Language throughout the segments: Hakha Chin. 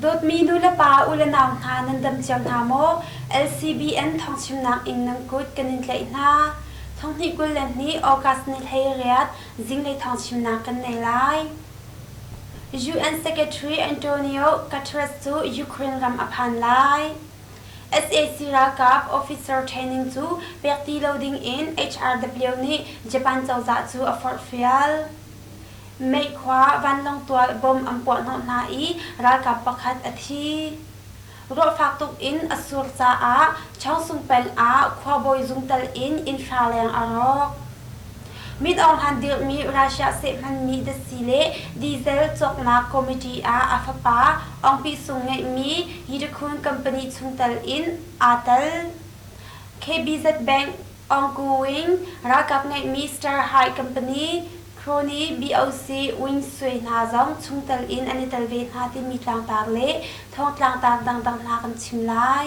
Dawtmi nulepa u le nau hna nan dam thiam hna maw? LCBN thawngchimnak in nan kut kan in tlaih hna. Thonghnih kul le hnih August ni hlei riat zinglei thawngchimnak kan nei lai. UN Secretary Antonio Guterres cu Ukraine ram a phan lai. sac ralkap officer training cu pek ti lo dingin HRW nih Japan cozah cu a forhfial. Meikhua vanlawng tual bom an puahhnawh hna i ralkap pakhat a thi. Ruah fak tuk in a sur caah Changsung peng ah khuabawi zungtal in innhra leng a rawk. Mit ohan dirhmi Russia seh hmanmi datsi le diesel cawknak committee ah a fapa Ongpi Sung ngeihmi Yidakun company chungtel in aa tel. KBZ Bank Ongkuing ralkap ngeihmi Starhai company Crony BOC Wing Sui hna zong chungtel in an i tel ve hna timi tlangtaar le thawngtlangtaar dangdang hna kan chim lai.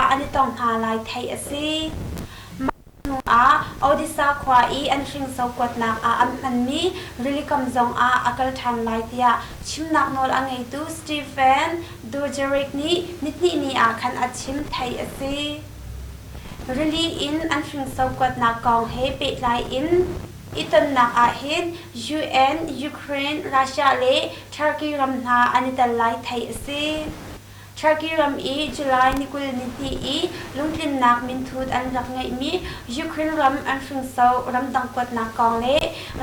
ah an i tong hna lai theih a si. Mah hnuah Odessa khua i an hringso kuatnak ah an hmanmi rilikam zongah a kal ṭhan lai tiah chimnak nawl a ngeitu Stephen Dujarric nih nihnih ni ah khan a chim theih a si. Rili in an hringso kuatnak kong he pehtlai in i tonnak ahhin UN, Ukraine, Russia le Turkey ram hna an i tel lai theih a si. Turkey ram i July ni kul nihnih i lungtlinnak minthut an rak ngeihmi Ukraine ram an hringso ramdang kuatnak kong le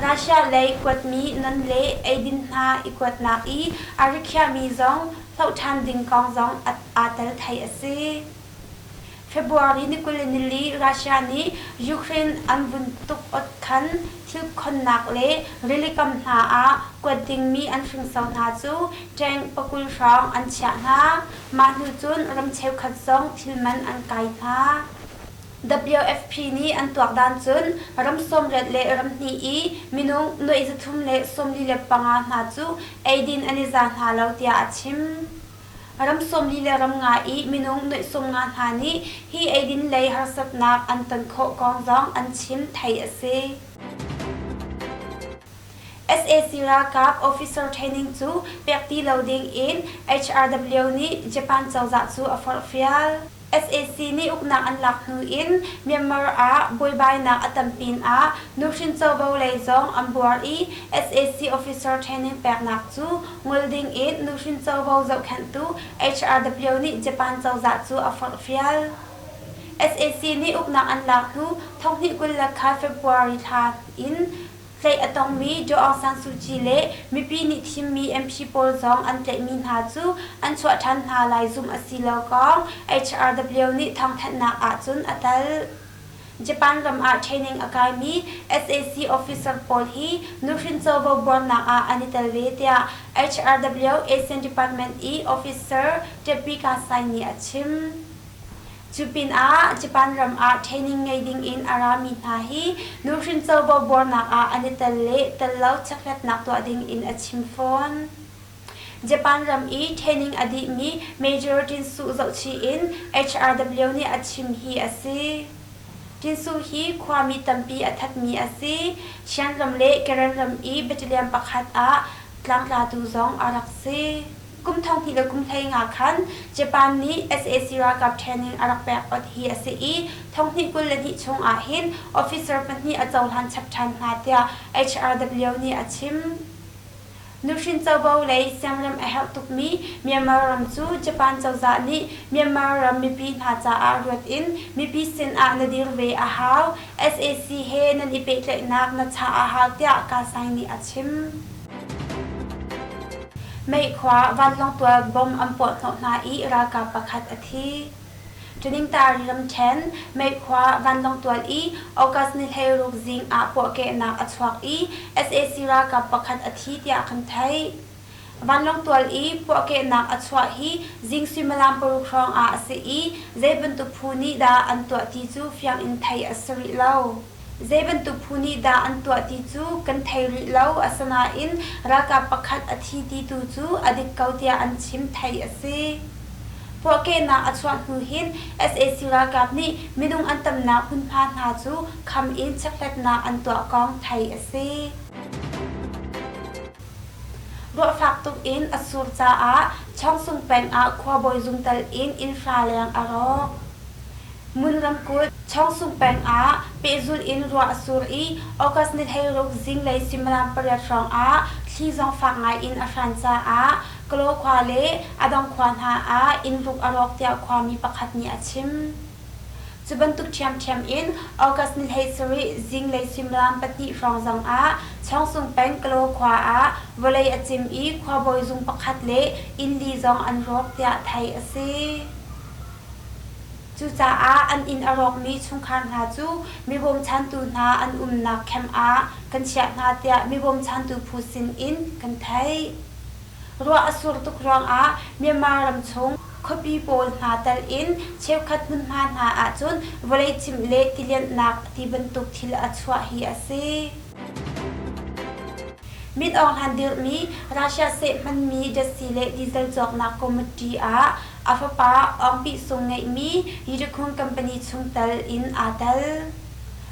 Russia lei kuatmi nan le eidin hna i kuatnak i a rikhiahmi zong hloh ṭhan ding kong zong aa tel thei a si. February ni kul in nili Russia nih Ukraine an vun tuk-ot khan thil khonnak le rilikam hna ah kuat dingmi an hringso hna cu tank pakul hrawng an chiah hna. Mah hnu cun ram cheukhat zong thil man an kai hna. WFP nih an tuakdan cun ram sawmriat le ramhnih i minung nuai zathum le sawmli le panga hna cu eidin an i za hna lo tiah a chim. Ram sawmli le ram nga i minung nuihsung nga hna nih hi eidin lei harsatnak an ton khawh kong zong an chim theih a si. SAC ralkap officer training cu pek ti lo ding in HRW nih Japan cozah cu a forhfial. sac nih uknak an lak hnu in Myanmar ah buaibainak a tam pinah nuhrin covo lei zong an buar i sac officer training peknak cu ngol dingin nuhrin covo zohkhenhtu HRW nih Japan cozah cu a forhfial. Sac nih uknak an lak hnu thonghnih kul le kha February thla in Tlaih a tongmi Aung San Suu Kyi le mipi nih thimmi MP pawl zong an tlaihmi hna cu an chuah ṭhan hna lai zumh a si lo kong HRW nih thawngthanhnak ahcun a tal. Japan ram ah training a kaimi sac officer pawl hi nuhrin covo buarnak ah an i tel ve tiah HRW Asian Department i officer Teppi Kasai nih a chim. Cu pinah Japan ram ah training ngei dingin a rami hna hi nuhrin covo buarnak ah an i tel le tel lo chekhlatnak tuah dingin a chim fawn. Japan ram i training a dihmi Major Tin Suh zohchih in HRW nih a chim hi a si. Tin Suh hi khuami tampi a thatmi a si. Shan ram le Karen ram i battalion pakhat ah tlangtlatu zong a rak si. Kum thonghnih le kum hlei nga khan Japan nih sac ralkap ṭhen in a rak pek awt hi a si i thonghnih kul le hnih chung ah hin officer pahnih a cohlan chap ṭhan hna tiah HRW nih a chim. Nuhrin covo lei siangrem a herh tukmi Myanmar ram cu Japan cozah nih Myanmar ram mipi hna caah ruat in mipi sin ah na dir ve a hau, sac he nan i pehtlaihnak na chah a hau tiah Kasaing nih a chim. Meih khua vanlawng tual bom an puahhnawh hna i ralkap pakhat a thi. Thaningtaari ramṭhen Meih khua vanlawng tual i August ni hleiruk zing ah puahkehnak a chuak i sac ralkap pakhat a thi tiah kan theih. Vanlawng tual i puahkehnak a chuah hi zing suimilam paruk hrawng ah a si i zei bantuk phu nih dah an tuah ti cu fiang in theih a si rih lo. Zei bantuk phu nih dah an tuah ti cu kan thei rih lo. Asinain ralkap pakhat a thi ti tu cu a dik ko tiah an chim theih a si. Puahkehnak a chuah hnu hin sac ralkap nih minung an tamnak hmunhma hna cu kham in chekhlatnak an tuah kong theih a si. Ruahfak tuk in a sur caah Chawngsung peng ah khuabawi zungtel in innhra leng a rawk. Ngun ramkulh Chawngsung peng ah pehzulh in ruah a sur i August ni hleiruk zinglei suimilam pariat hrawngah thli zong fak ngaiin a hran caah Kalaw khua le a dong khua hna ah inn ruk a rawk tiah khuami pakhat nih a chim. Cu bantuk ṭhiamṭhiam in August ni hlei sarih zinglei suimilam pahnih hrawng zongah Chawngsung peng Kalaw khua ah vawlei a cim i khuabawi zung pakhat le inn li zong an rawk tiah theih a si. Cucaah an inn a rawkmi chungkhar hna cu mi bawmchantu hna an umnak camp ah kan chiah hna tiah mi bawmchantu phu sinin kan theih. Ruah a sur tuk ruangah Myanmar ram chung khuapi pawl hna tal in cheukhat hmunhma hna ahcun vawlei cimh le tilianhnak ti bantuk thil a chuah hi a si. Mit ohngan dirhmi Russia seh hmanmi jasi le diesel cawknak committee ah a fapa awngpih sung ngeihmi Yiddikhung company chung tal in aa tel.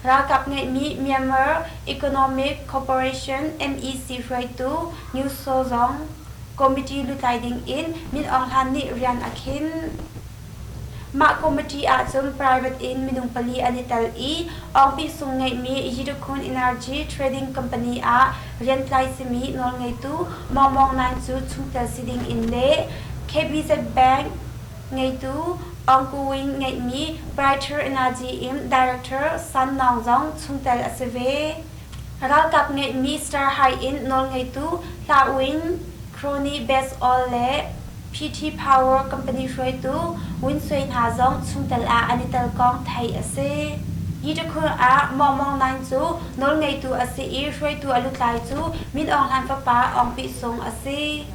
Ralkap ngeihmi Myanmar Economic Cooperation, MEC, hruaitu Nyu Saw zong committee lutlai ding in Min Aung Hlan nih rian a khinh. Mah committee ahcun private in minung pali an i tel i office chung ngeihmi Yidukhun Energy Trading Company ah riantlai simi nawlngeitu Mawng Mawng Naing cu chungtel si ding in le KBZ Bank Ngeitu Aung Kowin ngeihmi Brighter Energy in Director San Naung zong chungtel a si ve. Ralkap ngeihmi Star Hai in nawlngeitu Hla Win, Crony Basol le PT Power company hruaitu Win Sui hna zong chungtel ah an i telkong theih a si. Hi tikhul ah Maung Maung Naing cu nawlngeitu a si i hruaitu a lutlai cu Min Aung Hlan fapa Aung Pih Sung a si.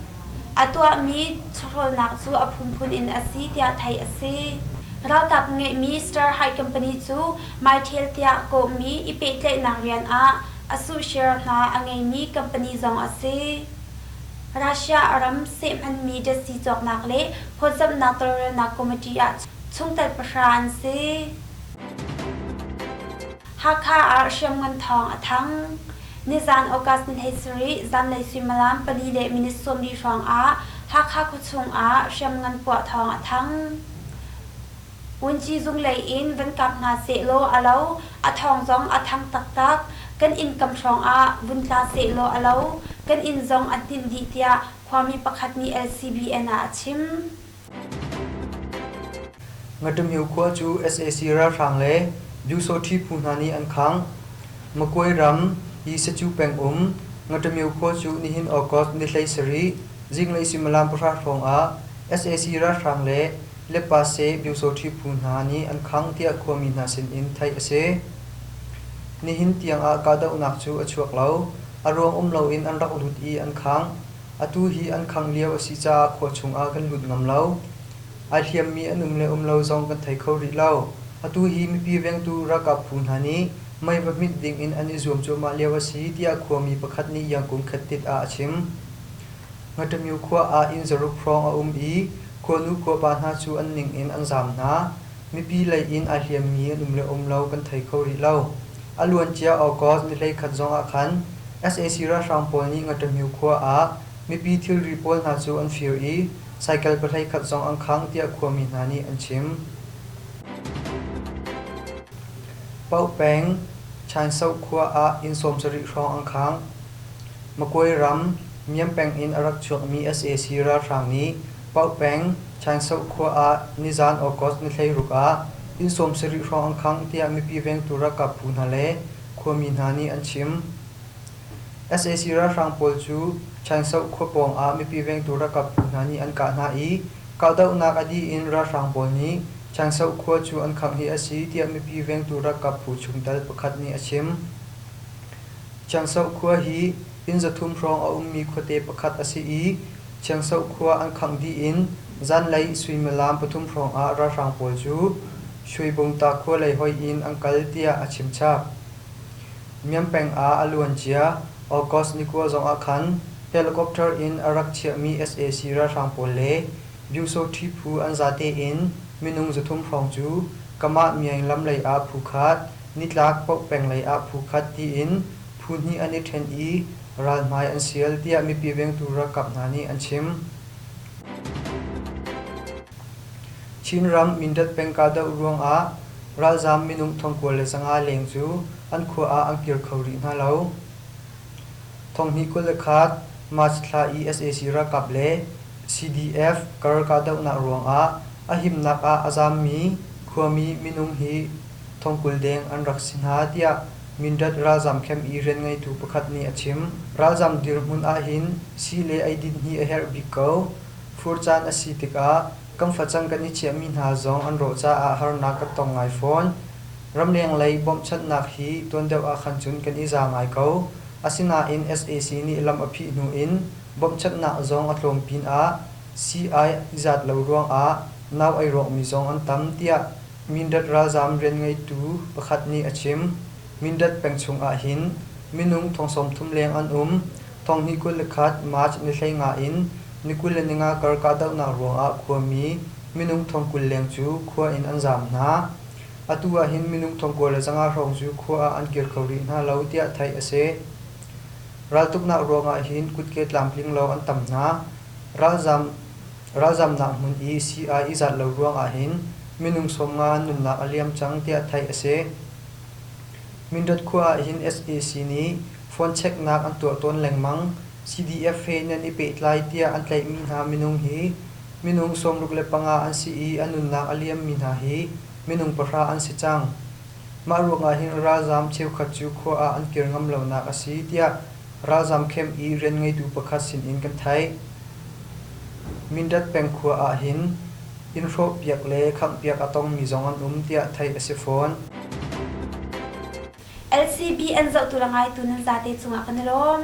A tuahmi chawhrawlnak cu a phunphun in a si tiah theih a si. Ralkap ngeihmi Starhide company cu Mytel tiah kawhmi i pehtlaihnak rian ah a suh share hna a ngeimi company zong a si. Russia ram sehhmanmi datsi cawknak le phawtzamhnak tawlrelnak committee ah chungtel pahra an si. Hakha ah hriamngan thawng a thang. Nizaan August ni hleisarih zanlei suimilam pali le minute sawmli hrawngah Hakha khuachung ah hriamngan puah thawng a thang. Wunci zung lei in van kap hna sehlaw a lo. A thawng zong a thang taktak. Kan inn kam hrawngah vun tla sehlaw a lo. Kan inn zong a hninh dih tiah khuami pakhat nih LCBN ah a chim. Ngaṭamhio khua cu sac ralhrang le Byusawṭhi phu hna nih an khangh. Makwe ram Yisacu peng um Ngaṭamhio khua cu nihin August ni hlei sarih zinglei suimilam pahra hrawng ah sac ralhrang le Lepase Byusawṭhi phu hna nih an khangh tiah khuami hna sinin theih a si. Nihin tiangah kahdohnak cu a chuak lo. A ruang um loin an rak lut i an khangh. Atu hi an khang lio a si caah khua chungah kan lut ngam lo. Ai hliammi an um le um lo zong kan thei kho rih lo. Atu hi mipi vengtu ralkap phu hna nih mei va hmit dingin an i zuam cuahmah lio a si tiah khuami pakhat nih Iangkum khattit ah a chim. Ngaṭamyu khua ah inn zaruk hrawng a um i khuanu khuapa hna cu an ning in an zaam hna. Mipi lei in ai hliammi an um le um lo kan thei kho rih lo. A luancia August nihleikhat zong ah khan sac ralhrang pawl nih Ngaṭamyu khua ah mipi thilri pawl hna cu an fir i cycle pahleikhat zong an khang tiah khuami hna nih an chim. Paoh peng Chainsauk khua ah inn sawmsarih hrawng an khang. Makwe ram Myiam peng in a rak chuakmi sac ralhrang nih Paoh peng, Changsauh khua ah nizaan August ni hleiruk ah inn sawmsarih hrawng an khang tiah mipi vengtu ralkap phu hna le khuami hna nih an chim. sac ralhrang pawl cu Changsauh khua pawng ah mipi vengtu ralkap phu hna nih an kah hna i kahdohnak a dih in ralhrang pawl nih Changsauh khua cu an khangh hi a si tiah mipi vengtu ralkap phu chungtel pakhat nih a chim. Changsauh khua hi Inn zathum hrawng a ummi khuate pakhat a si i Chiangso khua an khangh dih in zanlei suimilam pathum hrawngah ralhrang pawl cu Shuibungta khua lei hoih in an kal tiah a chimchap. Miang peng ah a luancia August ni kua zongah khan helicopter in a rak chiahmi sac ralhrang pawl le Byungsoṭhi phu an zate in minung zathum hrawng cu Kamah Myaing lam lei ah phu khat, Nitlak Poh peng lei ah phu khat tiin Phu hnih an i ṭhen i ral hmai an sial, tiah mipi vengtu ralkap hna nih an chim. Chinram Mindat peng kahdoh ruangah ralzaam minung thongkua le zanga leng cu an khua ah an kir kho rih hna lo. Thonghnih kul le khat March thla i sac ralkap le CDF kar kahdohnak ruangah a himnak ah a zaammi khuami minung hi thongkul deng an rak si hna, tiah Mindat ralzam camp i rianngeitu pakhat nih a chim. Ralzam dirhmun ahhin sii le eidin hi a herh bik ko. Fur caan a si tikah kan facang kan i chiahmi hna zong an rawh caah harnak kan tong ngai fawn. Ramleng lei bawmhchanhnak hi tuan deuh ahkhan cun kan i za ngai ko. Asinain sac nih lam a phih hnu in bawmhchanhnak zong a tlawm pinah sii ai zat lo ruangah nau ai rawkmi zong an tam, tiah Mindat ralzaam rianngeitu pakhat nih a chim. Mindat peng chung ah hin minung thong sawmthum leng an um. Thong hi kul le khat March ni hlei nga in ni kul le ninga kar kahdohnak ruangah khuami minung thong kul leng cu khua in an zaam hna. Atu ah hin minung thong kua le zanga hrawng cu khua ah an kir kho rih hna lo tiah theih a si. Raltuknak ruangah hin kutke tlamtling lawng an tam hna. Ralzaam Ralzamnak hmun i sii-ai i zat lo ruangah hin minung sawmnga an nunnak a liam cang tiah theih a si. Mindrat khua ahhin sac nih fuancheknak an tuah tawn lengmang. CDF he in an i pehtlai tiah an tlaihmi hna minung hi minung sawmruk le panga an si i an nunnak a liammi hna hi minung pahra an si cang. Mah ruangah hin ralzaam cheukhat cu khua ah an kir ngam lonak a si tiah ralzaam khem i rian ngeitu pakhat sinin kan theih. Mindat peng khua ahhin inn hrawhpiak le khanghpiak a tongmi zong an um tiah theih a si fawn. LCB an zohtu le ngaitu nan zate cungah kan i lawm.